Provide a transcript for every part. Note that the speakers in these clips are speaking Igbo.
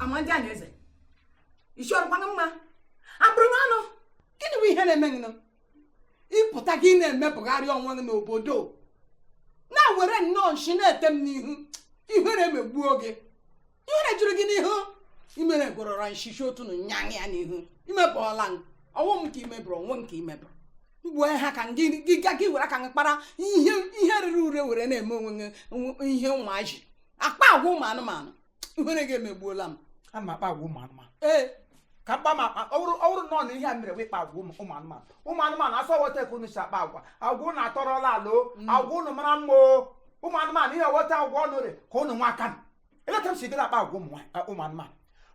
ama ndị a na-eze isi ọ rịkwanụ mma abụrụ m anụ gịnị bụ ihe na-eme gị nọ ịpụta gị na-emebọgharị onwe gị n'obodo na-ewere nnọọ nshi na-ete m n'ihu ihere megbuo gị ihere jụrụ gị n'ihu imere gụrọrọ nshishi otu na nyaṅụ ya n'ihu imebọọla m ọ wụ m ka imebọrọ onwe m ka imebọrọ mgbe ha ka gị ga gị were aka gị kpara ihe ihe rere ure were na-eme onwe gị ihe ụmụaji akpa agwa ụmụ anụmanụ ihere gị emegbuola m ana m akpa agwa ụmụ anụmanụ ee ka m kpama akpa ọ bụrụ ọ bụrụ na ọ na ihe m mere wụ ịkpa agwa ụmụ ụmụ anụmanụ ụmụ anụmanụ asị ọ wụ etu a ka unu si akpa agwa agwa unu atọrọla ala o agwa unu mara mma o ụmụ anụmanụ ihe wụ etu agwa unu rị ka unu nwa aka elee etu m sigide akpa agwa ụmụ nwa- a- ụmụ anụmanụ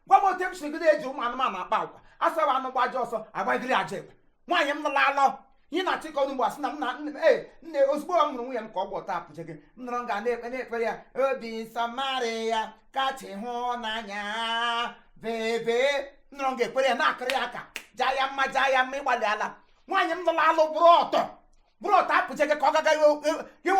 gwa m otu m sigide eji ụmụ anụmanụ akpa agwa asawa anụ gbaa ajọ ọsọ agbagiri ya ajọ egbe nwaanyị m lụrụ alụ ihe ị na-achọ ịkọ ugbu a sị na m na ee nne ozugbo m hụrụ nwunye m ka ọ gba ọtọ apụje gị m nọrọ nga na-ekwe na-ekwere ya obi nsọ Maria kacha ịhụnanya bebe nọrọ nga ekwere ya na-akụrụ ya aka jaa ya mma jaa ya mma ịgbalịala nwaanyị m lụrụ alụ bụrụ ọtọ bụrụ ọtọ apụje gị ka ọ gaga ighe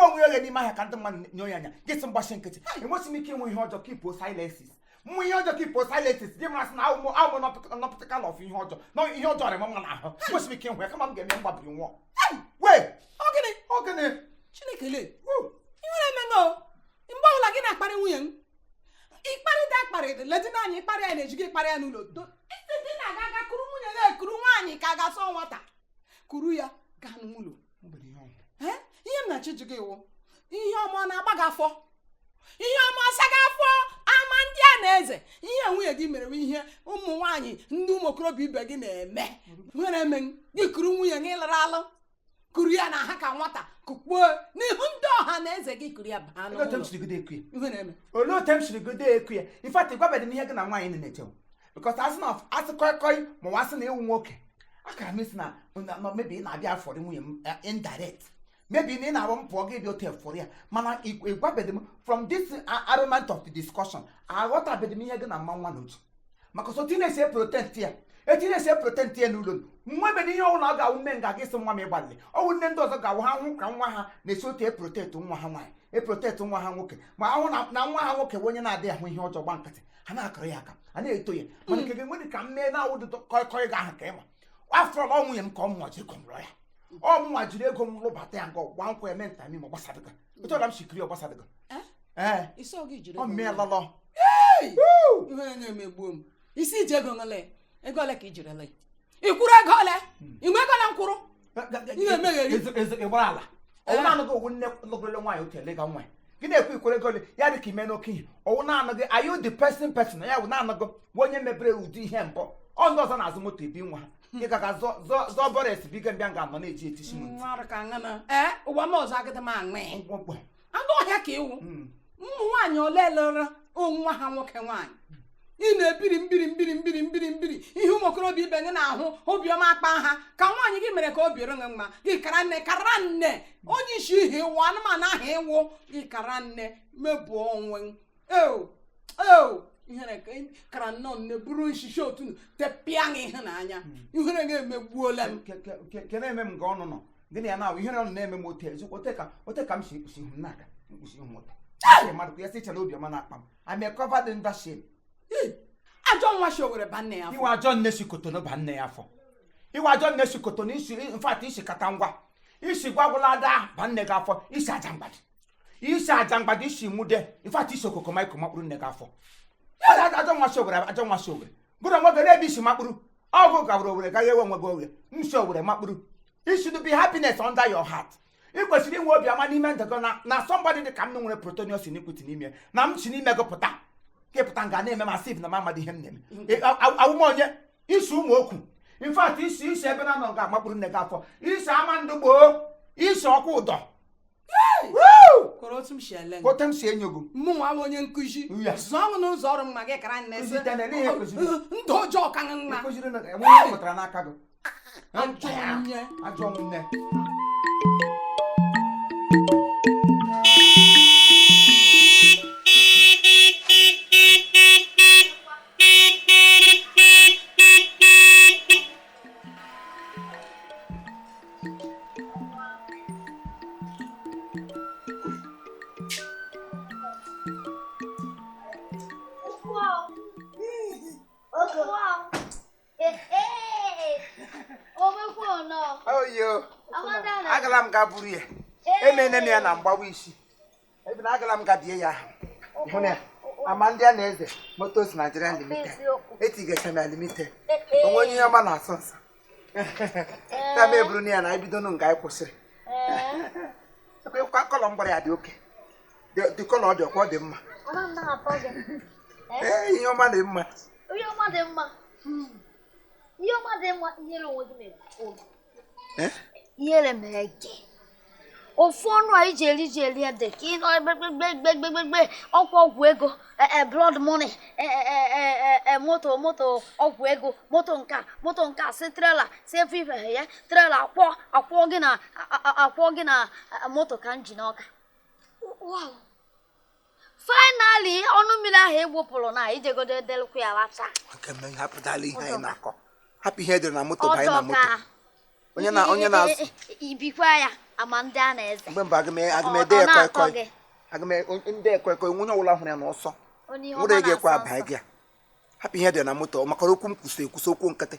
onwe ya oghe n'ime ahịa ka ndị mmadụ nyoo ya anya gị sị m gbachi nkịtị enwesị m ike ịhụ ihe ọjọọ keepuo silences m hụ ihe ọjọọ keepuo silences gị ma sị na awụmụ awụmụ nọpụtaka na ọfụ ihe ọjọọ na ihe ọjọọ arị m mma n'ahụ enwesị m ike ịhụ ya kama m ga-eme m gbabiri nwụọ hee ọ gịnị ọ gịnị chineke le ihere emee m o mgbe ọbụla gị na-akparị nwunye m ịkparịta akparị ledina anyị ịkparị ya n'ezi gị ịkparị ya n'ụlọ do ịsị di na-aga aga kuru nwunye ya ekuru nwaanyị ka a ga-asị ọ nwata kuru ya gaa n'ụlọ ihe m na-achọ ịjụ gị wụ ihe ọma ọ na-agba gị afọ ihe ọma ọ sa gị afọ ama ndị a na-eze ihe nwunye gị mere wụ ihe ụmụ nwaanyị ndị ụmụ okorobịa ibe gị na-eme ihere eme gị kuru nwunye gị lụrụ alụ kuru ya na ha ka nwata kukpuo n'ihu ndị ọha na eze gị kuru ya baa n'ụlọ olee otu m siri godi ekwu ya in fact ịgwabedị m ihe gị na nwaanyị na-eche because asị na asị kọịkọị ma ọ wụ asị na ịwụ nwoke akara m ịsị na na maybe ị na-abịa afọrị nwunye m eh, indirect maybe na ọ na-abụ m pụọ gị bịa otu efọrọ ya mana ịgwabeghị m from this a- argument of the discussion aghọtabeghị m ihe gị na mma nwa n'otu maka sọ otu ị na-esi protect ya etu ị na-esi protect ya n'ụlọ nwebeghị ihe ọbụla ọ ga-awụ nne nga gị sị nwa m ịgbalị ọ wụ nne ndị ọzọ ga-awụ ha hụ ka nwa ha na-esi otu eprotect nwa ha nwaanyị eprotect nwa ha nwoke ma ha hụ na na nwa ha nwoke bụ onye na-adịghị ahụ ihe ọjọọ gba nkịtị ha na-akụrụ ya aka a na-eto ya mana nke gị enwedị ka m mee na awụdị kọịkọị ga ahụ ka ịma after all nwunye m ka ọ wụ mụnwa ji ego m lụọ ya ọ mụnwa jiri ego m lụbata ya nga gwa nkwa ya mee nta ma ọ gbasadị gị otu ọbụla m si kuru ya ọ gbasadị gị Eh? ee ịsị oge ijiri ọ mee lọlọ ihere emegbuo m ịsị iji ego ole ego ole ka ijiri lụọ ịkwụrụ ego ole inwe ego na nkwụrụ Ị na-emegheri. ịgbara ala ọwụ naanị gị ọwụ nne lụberela nwaanyị otu ele ga nwa ya. gị na-ekwu ikwere gole ya dị ka i mena oke ihe ọwụ naanị gị are you the first person ya wụ naanị gị bụ onye mebere ụdị ihe mbụ ọ ndị ọzọ na-azụ moto ebi nwa ha ị gaga zụọ bọres biga mbịa nga anọ na-eji etisi m ntị Mmadụ ka aṅụ na- Ee, ụwa m ọzọ agịdị m aṅụ ya. mkpọmkpọ anụ ọhịa ka ị wụ hmm. ụmụ nwaanyị ole lụrụ nwa ha nwoke nwaanyị ị na-ebiri mbiri mbiri mbiri mbiri mbiri ihe ụmụ okorobịa ibe gị na-ahụ obiọma akpa ha ka nwaanyị gị mere ka obi rị gị mma gị kara nne kara nne onye isi ihe ị wụ anụmanụ ahụ ị wụ gị kara nne mebuo onwe eo eo ihere kara nnọọ nne buru nshishi otu tepịa gị ihu na anya ihere gị emegbuola m kere eme m nke ọnụ nọ gịnị ya na ihere ọnụ na-eme m ote ezigbo ote ka m si ekpusi ihu m na-aga ekpusi ihu m ote mmadụ ka ya si chere obiọma na akpa m I'm a covered in that shame ajọ nwa si owere ba nne ya afọ ị wụ ajọ nne si Cotonou ba nne ya afọ ị wụ ajọ nne si Cotonou in fact i si Katangwa i si Gwagwalada ba nne gị afọ i si Ajangbadi i si Ajangbadi i si nwude in fact i si Okokomaiko makpuru nne gị afọ ajọ nwa shi owere ajọ nwa shi owere gụrụ onwe gị n'ebe i si makpuru ọgụ gawara owere gaghị ewe onwe gị oghere i si owere makpuru it should be happiness under your heart ị kwesịrị inwe obi ọma n'ime ndụ gị na na somebody dị ka m nwere protonius iniquity n'ime na m si n'ime gị pụta ka ị pụta nga na-eme m as if na m amadị ihe m na-eme Ị- a- a- awụ m onye isi ụmụ okwu in fact i si isi ebe na nọ ga-amakpuru nne gị afọ i si Amandugba i si Okwudor kọrọ otu m si ele gị. otu m si enyo gị mụ nwa bụ onye nkụzi Ya. zụọ m n'ụzọ rị mma gị kara nne sị Kụzite na ele ihe kụziri. ndụ ọjọọ ka nna kụziri na enwe ihe pụtara n'aka gị ajọ onye ajọ nne agala m ga buru ya emene m ya na mgbawa isi Ebina agala m gabie ya hụ na Amandianaeze Motors Nigeria Limited etigasị na Limited o nwe onye ihe ọma na-asọ nsọ ya ma eburu na ya na ebidonu nga anyị kwụsịrị ekwa colour m gbara ya dị okay the colour ọ dị ọkwa ọ dị mma ee ihe ọma dị mma ihe ọma dị mma ihe ọma dị mma inyere onwe gị na-ekwu eh? ihere mee gị ofu ọnụ a iji eri ji eri ede ka ịnọ gbegbegbegbegbegbe ọkwa ọgwụ ego e, e, blood money e, moto moto ọgwụ ego moto nka moto nka si trela si efe ife ya trela akwọ akwọ gị na akwọ gị na moto ka m ji n'ọka finally ọnụ mmiri ahụ egbopụrụ na ijegodo edelụkwa ya lacha hapụtala ihe anyị na-akọ hapụ ihe dị na moto banye na moto onye na onye na ibikwa ya ama ndị a na-eze mgbe mba aga m ede ya kọịkọị ndị ekwekọ onye ọbụla hụrụ ya n'ọsọ nwere ga-ekwe abanye gị ya hapụ ihe dị na moto maka okwu m kwụsị ekwusi okwu nkịtị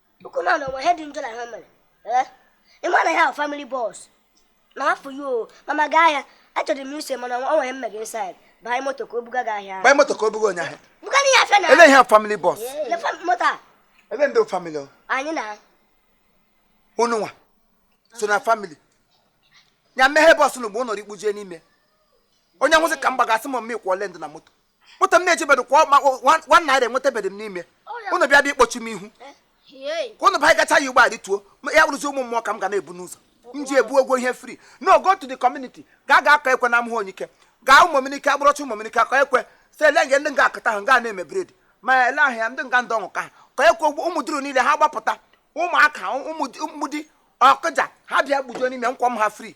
Ukwu na na onwe ihe dị njọ na ihe o mere. Ee, ị ma na ihe ahụ family bus. Na afọ ya o, mama gaa ahịa. Achọrọ m ịsị mana o nwere ihe emega inside. Baa moto ka o buga gị ahịa. Gbaa moto ka o buga onye ahịa. Buga n'ihe afịa na. Ele ihe a family bus. Ele fam- moto a, Ele ndị family o. anyị na. Unu nwa. So na family. Ya mehie bus unu bụ ụnọrọ ikpujie n'ime. Onye nwụsị ka m gbagasị ma mmekwa ole ndị na moto. moto m na-ejebedụ kwa nwa naira enwetabedị m n'ime unu bịa bịa ịkpọchi m ihu ka unu baa gacha ya ụgbọ adịtuo ya bụrụzi ụmụ mmụọ ka m ga na-ebu n'ụzọ m ji ebu ụgwọ ihe free no go to the community ga gaa kụọ ekwe na amụhụ onyike gaa ụmụminike agbụrọcha ụmụminike kụọ ekwe si ele nge ndị nga akụta ahụ nga na-eme bred ma ele ahụ ya ndị nga ndị ọṅụ ka ha ka ekwe ụmụ duru niile ha gbapụta ụmụaka ụmụdi ọkụja ha bịa gbujuo n'ime m kwọọ ha free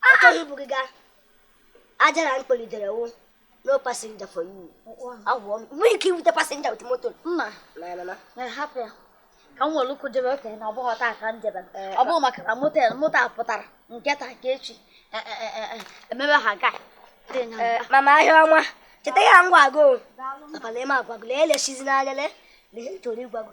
Achọghị ibu gị gaa. Aja na mkpọlitere wụ no passenger for you. Agwọ m. Nwee ike iwute passenger with moto. Mma. Na na na. Na hapụ ya. Ka m were ụkwụ jebe okenye na ọ bụghị taa ka m jebe. Eh, ọ bụghị maka na moto moto a pụtara nke taa nke echi. Eh, eh, Emebe ha gaa. Mama ahịa ọma. Cheta ihe m gwa gị. Papa ana m agwa gị. Lee elesizi n'anya lee. Lee ihe m chọrọ ịgwa gị.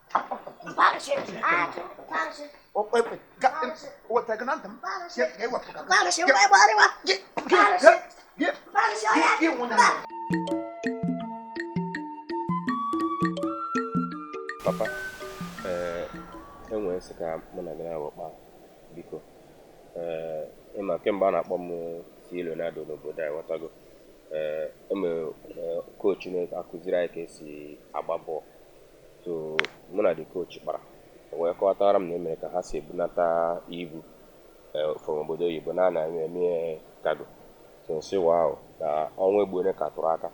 papa ee eh, enwere ihe m sị ka mụ na gị naabọ kpaa biko ee eh, ịma kemgbe a na-akpọ m C Ronaldo n'obodo a ịghọtago ee eh, enwere coach na-akụziri anyị ka esi agba bọọlụ so mụ na the coach kpara o wee kọwatara m na e nwere ka ha si ebunata ibu eh, from obodo oyibo na ha na-eme cargo so m sị wow na ọnwa egbuone ka tụrụ aka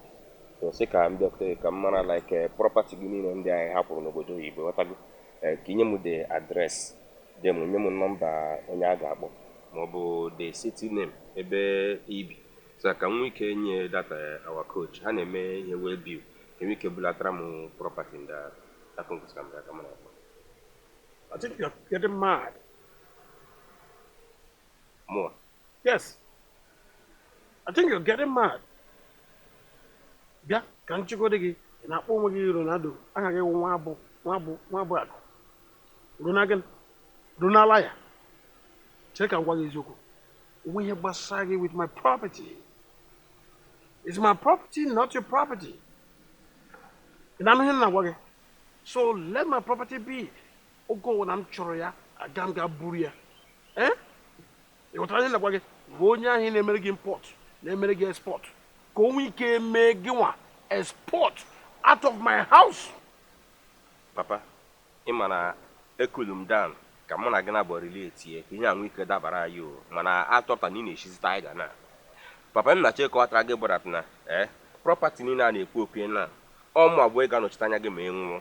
so m sị ka m bịakwute gị ka m mara like eh, property gị niile ndị anyị hapụrụ n'obodo oyibo ghọtago Eh, ka inye m the address dem nye m nọmba onye a ga-akpọ maọbụ the city name ebe ibi so ka m nwee ike nye that our coach ha na-eme ihe waybill e nwee ike bulatara m property ndị a akụ nkụzi ka m ga-aka mara akpa I think you're getting mad. mụwa Yes. I think you're getting mad. Bịa ka m jụgodi gị ị na-akpọ onwe gị Ronaldo aha gị wụ nwa abụ nwa abụ nwa abụ akụ Rona gịnị runala ya chere ka m gwa gị eziokwu o nwe ihe gbasara gị with my property It's my property, not your property. Ị na-anụ ihe m na-agwa gị? So let my property be. Oge ọwụna m chọrọ ya, aga m ga buru ya. Eh? Ị ghọtara ihe m na-agwa gị? Gwa onye ahụ na-emere gị import, na-emere gị export. Ka o nwee ike mee gịnwa export out of my house. Papa, Ị ma na e-cool-u m down ka mụ na gị nabọ relate-e ka ihe a nwee ike dabara anyị o, mana a chọpụtara na ị na-eshizi tiger now. Papa m na-achọ ịkọwatara gị bụ that na eh, property niile a na-ekwu okwu ya now, ọ mụnwa bụ onye ga-anọchite anya gị ma ị nwụọ.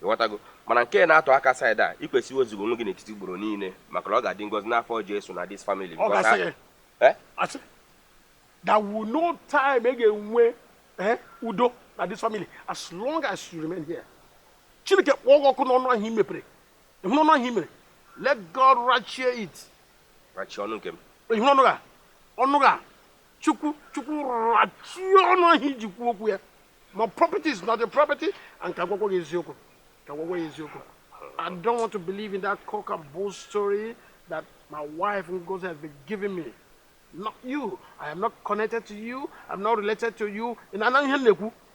Ị ghọtago? Mana nke na-atụ aka side a, i kwesịrị iwezuga onwe gị n'etiti ugboro niile maka na ọ ga-adị ngọzi n'afọ Jesu na this family Ọ because gasịghị. a- eh? Asị. There will no time e ga-enwe eh, udo na this family as long as you remain here. chineke kpọọ gị ọkụ n'ọnụ ahụ i mepere ịhụ n'ọnụ ahụ i mepere let god rachie it rachi ọnụ nke m ịhụ ọnụ gị a ọnụ gị a chukwu chukwu rachie ọnụ ahụ i ji kwuo okwu a my property is not your property and ka m gwakwa gị eziokwu ka m gwakwa gị eziokwu i don't want to believe in that cock and bull story that my wife ngozi has been giving me not you i am not connected to you i'm not related to you ị na-anụ ihe m na-ekwu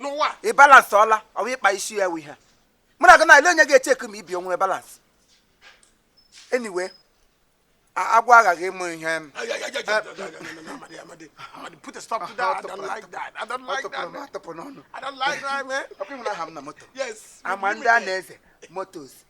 n'ụwa ị balance-ọla ọ wụ ịkpa isi a wụ ihe mụ na gị na-ele onye ga-echeck ma ibi o nwere balance anyway agwa aghaghị ime ihe Amandianaeze motors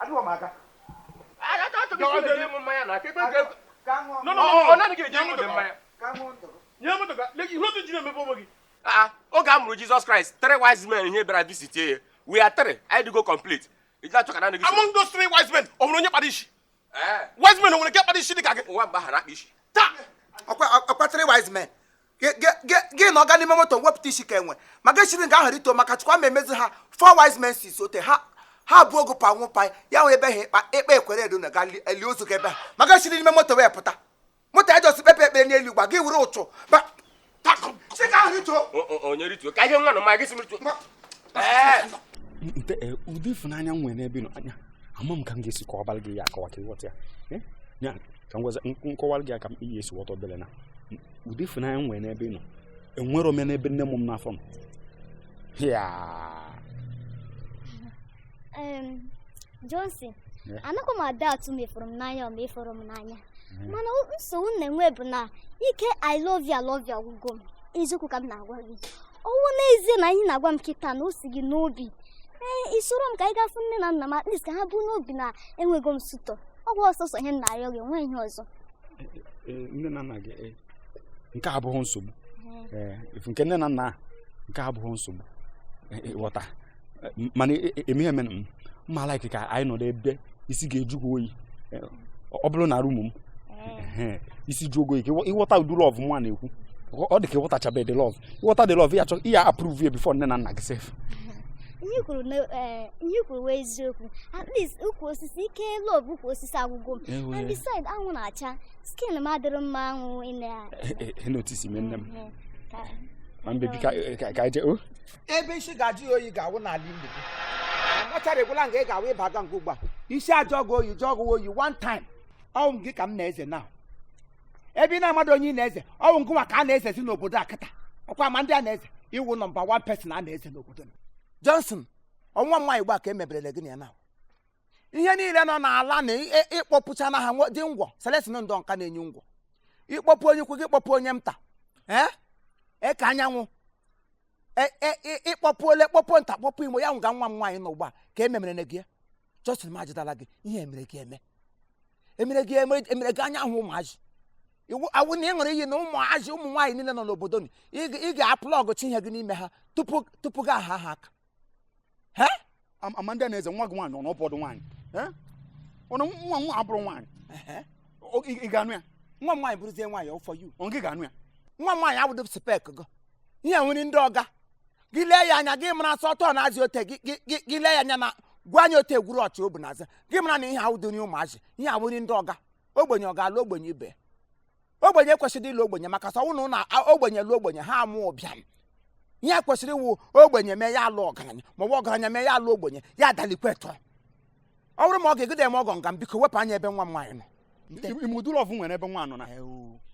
adịghị m aka oge a mụrụ Jesus Christ three wise men ihe bịara visit ya we are three anyị dịgo complete iji achọ ka na gị among those three wise men o nwere onye kpara isi wise men o nwere nke kpara isi dị ka gị ụwa mgbe ahụ a na-akpa isi taa ọ kwa three wise men gị nọ nga a n'ime moto wepụta isi ka enwe ma gị siri nga ahụ rituo maka Chukwu m emezie ha four wise men six ote ha ha bụ ogo pa nwụpa ya nwere ebe ha ịkpa ekpe ekwere edo na a ga-eli ozu gị ebe a ma gị siri n'ime moto wee pụta moto ya jọsi kpepe ekpere n'elu gba gị were ụchụ onye rituo ka ihe nwa na ma gị si rituo nte eh, ụdị ịfụnanya m nwere n'ebe ị nọ anya ama m ka m ga-esi kọwabara gị ya akọwa ka ị ghọta ya eh? ya ka m gwaza nkọwara gị aka m iyi esi ghọta obere na ụdị ịfụnanya m nwere n'ebe ị nọ enwerọ m ya n'ebe nne mụ m n'afọ m ya Johnson anakwa m a-doubt ma ị fụrụ m n'anya ama m ị fụrụ m n'anya hmm. mana nsogbu m na-enwe bụ na ike i love you love you agwụgo m eziokwu ka m na-agwa gị ọ wụ n'ezie na ihe ị na-agwa m kịta na o si gị n'obi ee eh, i soro m ka anyị ga fụ nne na nna m at least ka ha bu n'obi na enwego m suitor ọ bụ sọsọ ihe m na-arịọ gị nwee ihe ọzọ eh, eh, nne na nna gị nke a abụghị nsogbu nke nne na nna nke abụghị nsogbu ị ghọta mana e, e, eme eme m ma like ka anyị nọdụ ebe isi ga-ejukwa oyi eh, ọ bụrụ na room m eh. isi jụọ gị oyi ị ghọta ụdị love mụnwa na-ekwu ọ dị ka ị ghọtachabe ụdị love ị ghọta ụdị love ya chọ ya approve ya before nne na nna gị sef ihe i kwuru na eh, ihe i kwuru wụ eziokwu at least ukwu osisi ike love ukwu osisi agwụgo m and beside anwụ na-acha skin m adịrọ mma anwụ ị na-enotice m nne m my baby ka anyị jee oh. ebe isi ga-ajụ ya oyi ga-awụ n'ala ili gị machara egwula nga ị ga-awụ ị baga nga ahụ ugbu a isi ajụọ gị oyi jụọ gị oyi one time ọ wụ ngị ka m na-eze na ebe ị na-amadụ onye ị na-eze ọ wụ ngịnwa ka a na-ezezi n'obodo a kịta ọ kwa Amandianeze ị wụ number one person a na-eze n'obodo m Johnson ọ nwa m nwaanyị ugbu a ka emeberele gị na ya na ihe niile nọ n'ala na ị- ị- ị kpọpụcha na ha nwe- dị ngwọ selesin ndọ nka na-enye ngwọ ị kpọpụ onye ukwu gị kpọpụ onye nta ee eke anyanwụ E- e- ị- ị kpọpụ ole kpọpụ nta kpọpụ imo ya nwụga nwa m nwaanyị nọ ugbu a ka e memere gị na ya Johnson ma ajụtala gị ihe emere gị eme emere gị eme emere gị anya ahụ ụmụazị ọ wụ na ị ṅụrụ iyi na ụmụazị ụmụ nwaanyị niile nọ n'obodo nị ị ga- ị ga-aplọgụcha ihe gị n'ime ha tupu tupu gị aha ha aka Amandianeze nwa gị nwaanyị ọ na ọ bụdụ nwaanyị ọnụ nwa nwa abụrụ nwaanyị ị ga-anụ ya nwa nwaanyị bụrụzie nwaanyị for you ọ gị ga-anụ ya nwa m nwaanyị awụdị spec gị ihe a wụ nri ndị ọga gị lee ya anya gị mara sọ tọọ na-azị ote gị lee ya anya na gwa anya ote egwuru ọchị obu na-aza gị mara na ihe a awụdị nri ụmụazị ihe a wụ nri ndị ọga ogbenye ọ ga-alụ ogbenye ibe ogbenye kwesịrị ịlụ ogbenye maka sị ọ wụ na ogbenye lụ ogbenye ha amụ ụbịam ihe kwesịrị ịwụ ogbenye mee ya alụ ọgaranya ma ọ wụ ọgaranya mee ya alụ ogbenye ya adalikwetọ ọ bụrụ ma ọ ga-egide eme ọgọ nga m biko wepụ anya ebe nwa m nwaanyị nọ ị ma ụdị love m nwere ebe nwa nọ na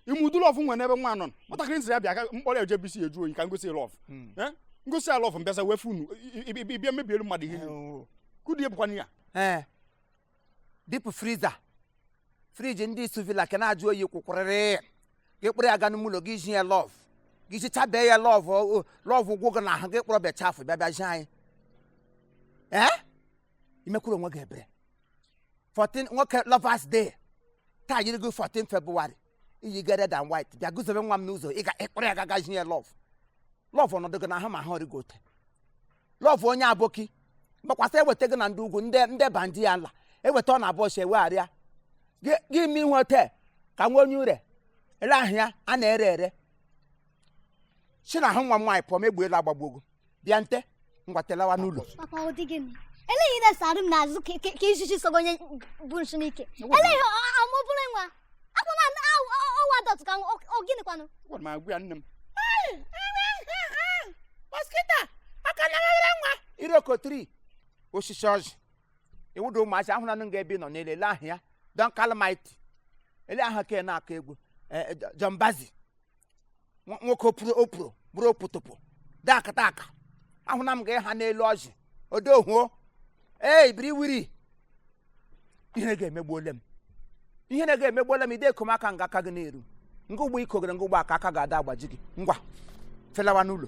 ị ma ụdị love m nwere ebe nwa nọ na nwatakịrị m sị ya bịa ka m kpọrọ ya je ebe isi eju oyi ka m gosi ya love hmm. eh? m gosi ya love m bịazịa wee fụ unu ị bịa mebiere mmadụ ihe kudie bụkwana ya eh. deep freezer fridge ndị isu vila ka na-ajụ oyi kwụkwụrịrị gị kpụrụ ya ga n'ime ụlọ gị zhi ya love gị zhichabe ya love love agwụ gị n'ahụ gị kpọrọ bịa chafụ bịa zhi anyị ee imekwuru onwe gị ebere 14 nwoke lovers day taa yiri gị 14 February i yiga red and white bịa guzobe nwa m n'ụzọ ị ga ịkpụrụ ya gaga zhi ya love love ọnọdụ gị n'ahụ ma ahụ ọrịgo ote love onye aboki gbakwasị eweta gị na ndị ugwu ndị bandit ya ala eweta ọ na-abụ ọ si ewegharịa gị gị ime ihe ote ka nwa onye ure ele ahụ ya a na-ere ere si n'ahụ nwa m nwaanyị pụọ ma egbe elu agbagbuo gị bịa nte ngwa telawa n'ụlọ papa ọ dị gịnị ele gị i na-esoro m n'azụ ka- ka ka ijiji sogo onye bu nshi n'ike ele gị amụbụrụ nwa akwa na ọwa dọtụ ka nwa- ọ- ọ gịnịkwanụ gwara m agwa ya nne m mosquito aka na ghere nwa iroko tree osisi ọjị ịwụda ụmụazị ahụ nanụ nga ebe ị nọ n'ele ele ahụ ya don kalmit ele ahụ ka ị na-akụ egwu eh, eh, John Bazi nwa- nwoke opuru opuru bụrụ okpotokpo dakata aka ahụna m ga ha n'elu ọjị odohuo ee ibiri wiri ihe na-ega emegbuole m ihe na-ega emegbuola m ide ekom aka nga aka gị na-eru nga ugbu a i kogere nga ugbu a aka aka ga-ada agbaji gị ngwa felawa n'ụlọ